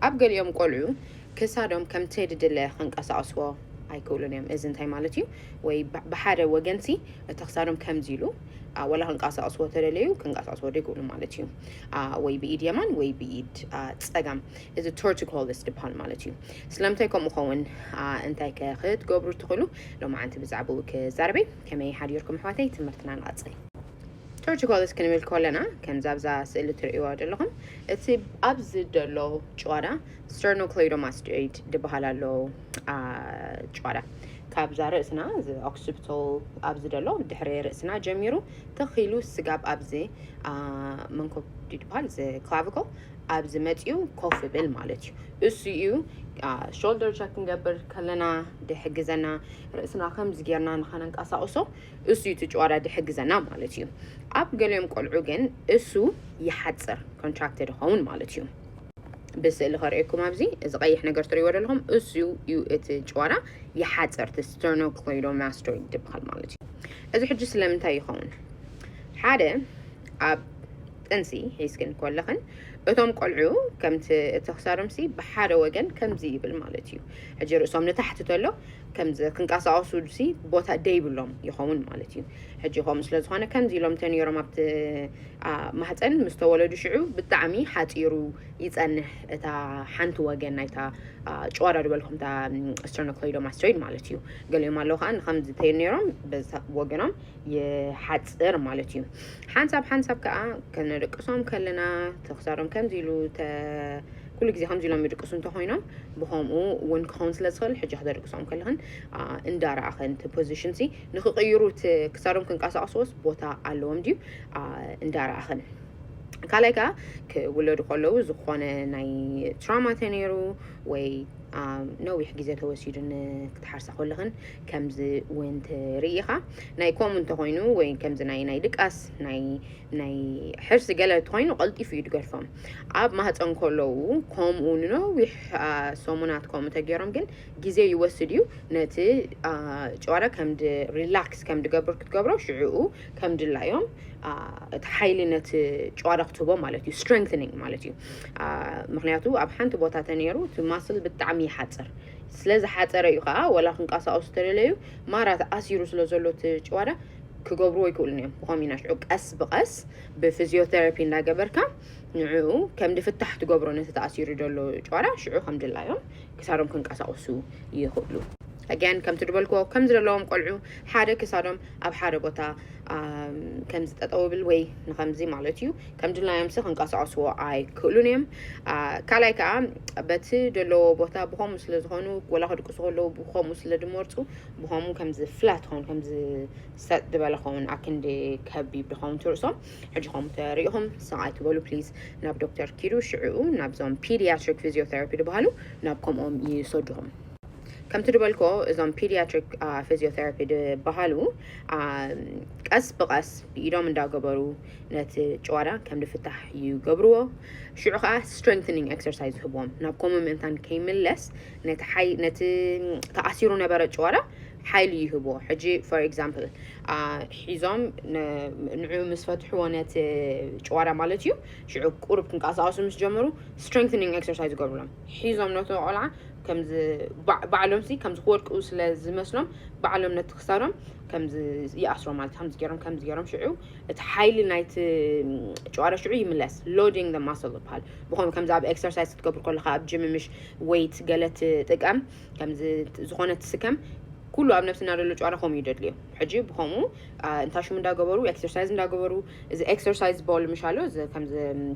ኣብ ገሊኦም ቆልዑ ክሳዶም ከምቲ ድድለ ከንቀሳቕስዎ ኣይክእሉን እዮም። እዚ እንታይ ማለት እዩ? ወይ ብሓደ ወገንሲ እቲ ክሳዶም ከምዚ ኢሉ ወላ ክንቀሳቕስዎ ተደለዩ ክንቀሳቕስዎ ደይክእሉ ማለት እዩ። ወይ ብኢድ የማን ወይ ብኢድ ጸጋም እዚ ቶርቲኮሊስ ድበሃል ማለት እዩ። ስለምንታይ ከምኡ ኸውን እንታይ ከ ክትገብሩ ትኽእሉ? ሎማዓንቲ ብዛዕባኡ ክዛረበይ ከመይ ሓዲርኩም ኣሕዋተይ ትምህርትና ንቐጽል። ጆርጅ ኮልስ ክንብል ኮለና ከምዚ ኣብዛ ስእሊ ትርእይዋ ደለኹም እቲ ኣብዚ ደሎ ጭዋዳ ስተርኖክሌይዶማስቶይድ ድበሃል ኣሎ ጭዋዳ ካብዛ ርእስና እዚ ኦክሲፕቶል ኣብዚ ደሎ ድሕሪ ርእስና ጀሚሩ ተኺሉ ስጋብ ኣብዚ መንኮብ ድበሃል እዚ ክላቪኮል ኣብዚ መፂኡ ኮፍ ብል ማለት እዩ እሱ እዩ ሾልደር ቸክ ክንገብር ከለና ድሕግዘና ርእስና ከምዚ ጌርና ንኸነንቀሳቕሶ እሱ እዩ ትጭዋዳ ድሕግዘና ማለት እዩ ኣብ ገሊኦም ቆልዑ ግን እሱ ይሓፅር ኮንትራክትድ ይኸውን ማለት እዩ ብስእሊ ከርእየኩም ኣብዚ እዚ ቀይሕ ነገር ትርእይዎ ዘለኹም እሱ እዩ እቲ ጭዋዳ ይሓፅር እቲ ስተርኖክሌዶማስቶይድ ትበሃል ማለት እዩ እዚ ሕጂ ስለምንታይ ይኸውን ሓደ ኣብ ጥንሲ ሒዝክን ኮለኽን እቶም ቆልዑ ከምቲ እቲ ክሳዶምሲ ብሓደ ወገን ከምዚ ይብል ማለት እዩ ሕጂ ርእሶም ንታሕቲ ተሎ ከምዚ ክንቀሳቀሱሉሲ ቦታ ደይብሎም ይኸውን ማለት እዩ ሕጂ ከምኡ ስለ ዝኾነ ከምዚ ኢሎም ተነይሮም ኣብቲ ማህፀን ምስ ተወለዱ ሽዑ ብጣዕሚ ሓፂሩ ይፀንሕ እታ ሓንቲ ወገን ናይታ ጨዋዳ ዝበልኩም እታ ስተርኖክሎይዶ ማስቶይድ ማለት እዩ ገሊኦም ኣለዉ ከዓ ንከምዚ ተነይሮም በዚ ወገኖም ይሓፅር ማለት እዩ ሓንሳብ ሓንሳብ ከዓ ከነደቅሶም ከለና ተክሳዶም ከምዚ ኢሉ ኩሉ ግዜ ከምዚ ኢሎም ይድቅሱ እንተኾይኖም ብኸምኡ እውን ክኸውን ስለ ዝኽእል ሕጂ ክተድቅሶም ከለኽን እንዳረኣኸን እቲ ፖዚሽን ሲ ንክቕይሩ እቲ ክሳዶም ክንቀሳቐስዎስ ቦታ ኣለዎም ድዩ እንዳረኣኸን ካልኣይ ከዓ ክውለዱ ከለዉ ዝኾነ ናይ ትራማ ተነይሩ ወይ ነዊሕ ግዜ ተወሲዱ ክትሓርሳ ከለኽን ከምዚ እውን ትርኢ ኢኻ ናይ ከምኡ እንተኾይኑ ወይ ከምዚ ናይ ናይ ድቃስ ናይ ናይ ሕርሲ ገለ እንተኾይኑ ቀልጢፉ እዩ ድገድፎም ኣብ ማህፀን ከለዉ ከምኡ ንነዊሕ ሰሙናት ከምኡ ተገይሮም ግን ግዜ ይወስድ እዩ ነቲ ጨዋዳ ከም ሪላክስ ከም ድገብር ክትገብሮ ሽዕኡ ከም ድላዮም እቲ ሓይሊ ነቲ ጨዋዳ ክትህቦ ማለት እዩ ስትሬንግኒንግ ማለት እዩ ምክንያቱ ኣብ ሓንቲ ቦታ ተነይሩ እቲ ማስል ብጣዕሚ ይሓፅር ስለ ዝሓፀረ እዩ ከዓ ወላ ክንቀሳቀሱ ተደለዩ ማራ ተኣሲሩ ስለ ዘሎ እቲ ጨዋዳ ክገብርዎ ይክእሉን እዮም ብኮምቢን ኣሽዑ ቀስ ብቀስ ብፍዝዮተረፒ እንዳገበርካ ንዕኡ ከምዲ ፍታሕ ትገብሮ ነቲ ተኣሲሩ ዘሎ ጭዋዳ ሽዑ ከምድላዮም ክሳዶም ክንቀሳቅሱ ይክእሉ ኣግያን ከምቲ ድበልክዎ ከም ዝደለዎም ቆልዑ ሓደ ክሳዶም ኣብ ሓደ ቦታ ከምዚ ጠጠው ብል ወይ ንከምዚ ማለት እዩ ከም ድላዮምሲ ክንቀሳቀስዎ ኣይክእሉን እዮም ካልኣይ ከዓ በቲ ደለዎ ቦታ ብከምኡ ስለ ዝኮኑ ወላ ክድቅሱ ከለዉ ብከምኡ ስለ ድመርፁ ብኸምኡ ከምዚ ፍላት ኾን ከምዚ ሰጥ ዝበለ ኸውን ኣክንዲ ከቢብ ድኸውን ትርእሶም ሕጂ ከምኡ ተሪኢኹም ሰብኣይ ትበሉ ፕሊዝ ናብ ዶክተር ኪዱ ሽዕኡ ናብዞም ፒዲያትሪክ ፊዚዮቴራፒ ድበሃሉ ናብ ከምኦም ይሰድኹም ከምቲ ድበልኮ እዞም ፒዲያትሪክ ፊዚዮቴራፒ ድበሃሉ ቀስ ብቐስ ብኢዶም እንዳገበሩ ነቲ ጭዋዳ ከም ድፍታሕ ይገብርዎ ሽዑ ከዓ ስትሬንግኒንግ ኤክሰርሳይዝ ዝህብዎም ናብ ከምኡ ምእንታን ከይምለስ ነቲ ሓይ ነቲ ተኣሲሩ ነበረ ጭዋዳ ሓይሊ ይህቦ ሕጂ ፎር ኤግዛምፕል ሒዞም ንዑ ምስ ፈትሕዎ ነቲ ጭዋዳ ማለት እዩ ሽዑ ቁርብ ክንቀሳቀሱ ምስ ጀመሩ ስትሬንግኒንግ ኤክሰርሳይዝ ይገብሩሎም ሒዞም ነቲ ቆልዓ ከምዚ ባዕሎም ሲ ከምዚ ክወድቁ ስለ ዝመስሎም ባዕሎም ነቲ ክሳዶም ከምዚ ይኣስሮ ማለት ከምዚ ገይሮም ከምዚ ገይሮም ሽዑ እቲ ሓይሊ ናይቲ ጨዋዳ ሽዑ ይምለስ ሎዲንግ ደ ማስል ይበሃል ብኸም ከምዚ ኣብ ኤክሰርሳይዝ ክትገብር ከለካ ኣብ ጅም ምሽ ወይት ገለ ትጥቀም ከም ዝኾነ ትስከም ኩሉ ኣብ ነብስና ዘሎ ጨዋታ ከምኡ እዩ ደድልዮ ሕጂ ብከምኡ እንታሽም እንዳገበሩ ኤክሰርሳይዝ እንዳገበሩ እዚ ኤክሰርሳይዝ ቦል ምሻሎ ከምዚ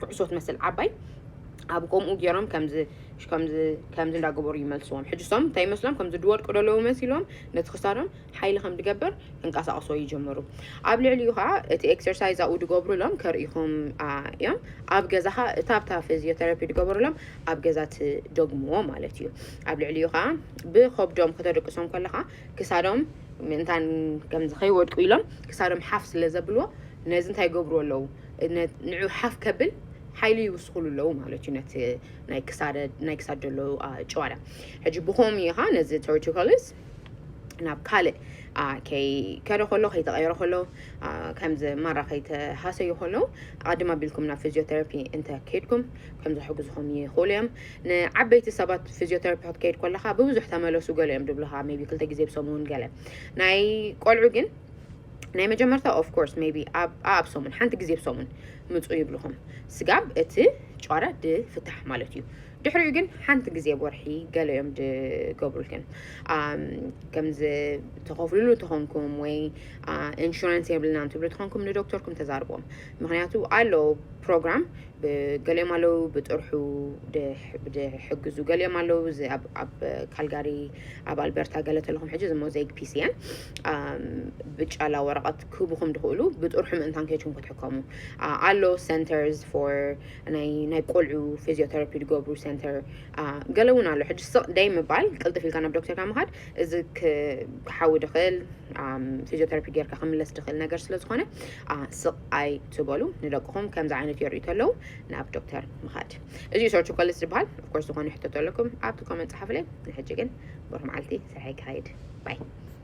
ኩዕሶት መስል ዓባይ ኣብ ከምኡ ገይሮም ከምዚ ከምዚ ከምዚ እንዳገበሩ ይመልስዎም ሕጂ ሶም እንታይ ይመስሎም ከምዚ ድወድቁ ደለዉ መሲሎም ነቲ ክሳዶም ሓይሊ ከም ድገብር ክንቀሳቕሶ ይጅምሩ። ኣብ ልዕሊኡ ኸዓ እቲ ኤክሰርሳይዝ ኣብኡ ድገብሩሎም ከርእኹም እዮም። ኣብ ገዛ ኸዓ እታ ኣብታ ፊዚዮተራፒ ድገበሩሎም ኣብ ገዛ ትደግምዎ ማለት እዩ። ኣብ ልዕሊኡ ኸዓ ብኸብዶም ከተደቅሶም ከለኻ ክሳዶም ምእንታን ከምዚ ከይወድቁ ኢሎም ክሳዶም ሓፍ ስለ ዘብልዎ ነዚ እንታይ ይገብርዎ ኣለዉ ንዑ ሓፍ ከብል ሓይሊ ይውስኹሉ ኣለዉ ማለት እዩ ነቲ ናይ ክሳድ ዘሎ ጨዋዳ ሕጂ ብኸምኡ ኢኻ ነዚ ቶርቲኮሊስ ናብ ካልእ ከይከደ ከሎ ከይተቐየረ ከሎ ከምዚ ማራ ከይተሃሰዩ ከሎ ኣቐድም ኣቢልኩም ናብ ፊዚዮቴራፒ እንተ ከይድኩም ከም ዘሕግዝኹም ይኽእሉ እዮም ንዓበይቲ ሰባት ፊዚዮቴራፒ ክትከይድ ከለኻ ብብዙሕ ተመለሱ ገለ እዮም ድብልኻ ሜቢ ክልተ ግዜ ብሰሙን ገለ ናይ ቆልዑ ግን ናይ መጀመርታ ኦፍ ኮርስ ሜቢ ኣብ ሰሙን ሓንቲ ግዜ ብሰሙን ምፁ ይብልኹም ስጋብ እቲ ጨረ ድፍታሕ ማለት እዩ ድሕሪኡ ግን ሓንቲ ግዜ ወርሒ ገለ እዮም ዝገብሩልክን ከምዚ ተኸፍልሉ ተኾንኩም ወይ ኢንሹራንስ የብልናን ትብሉ ተኾንኩም ንዶክተርኩም ተዛርቦም ምክንያቱ ኣሎ ፕሮግራም ገሊኦም ኣለዉ ብጥርሑ ዝሕግዙ ገሊኦም ኣለዉ ኣብ ካልጋሪ ኣብ ኣልበርታ ገለ ተለኹም ሕጂ ዝሞ ዘይግ ፒሲ እየን ብጫላ ወረቐት ክህቡኹም ድኽእሉ ብጥርሑ ምእንታን ከይትኩም ክትሕከሙ ኣሎ ሰንተርስ ፎር ናይ ናይ ቆልዑ ፊዚዮተራፒ ዝገብሩ ሰንተር ገለ እውን ኣሎ ሕጂ ስቕ ደይ ምባል ቅልጥፍ ኢልካ ናብ ዶክተርካ ምኻድ እዚ ክሓዊ ድኽእል ፊዚዮተራፒ ጌርካ ክምለስ ድኽእል ነገር ስለ ዝኾነ ስቕ ኣይ ትበሉ ንደቅኹም ከምዚ ዓይነት የርእዩ ተለዉ ናብ ዶክተር ምኻድ እዚ እዩ ሰርቹ ኮልስ ዝበሃል ኦፍኮርስ ዝኾነ ሕቶ ተለኩም ኣብቲ ኮመንት ፀሓፍለይ ንሕጂ ግን ብሩህ መዓልቲ ስራሕ ይካየድ ባይ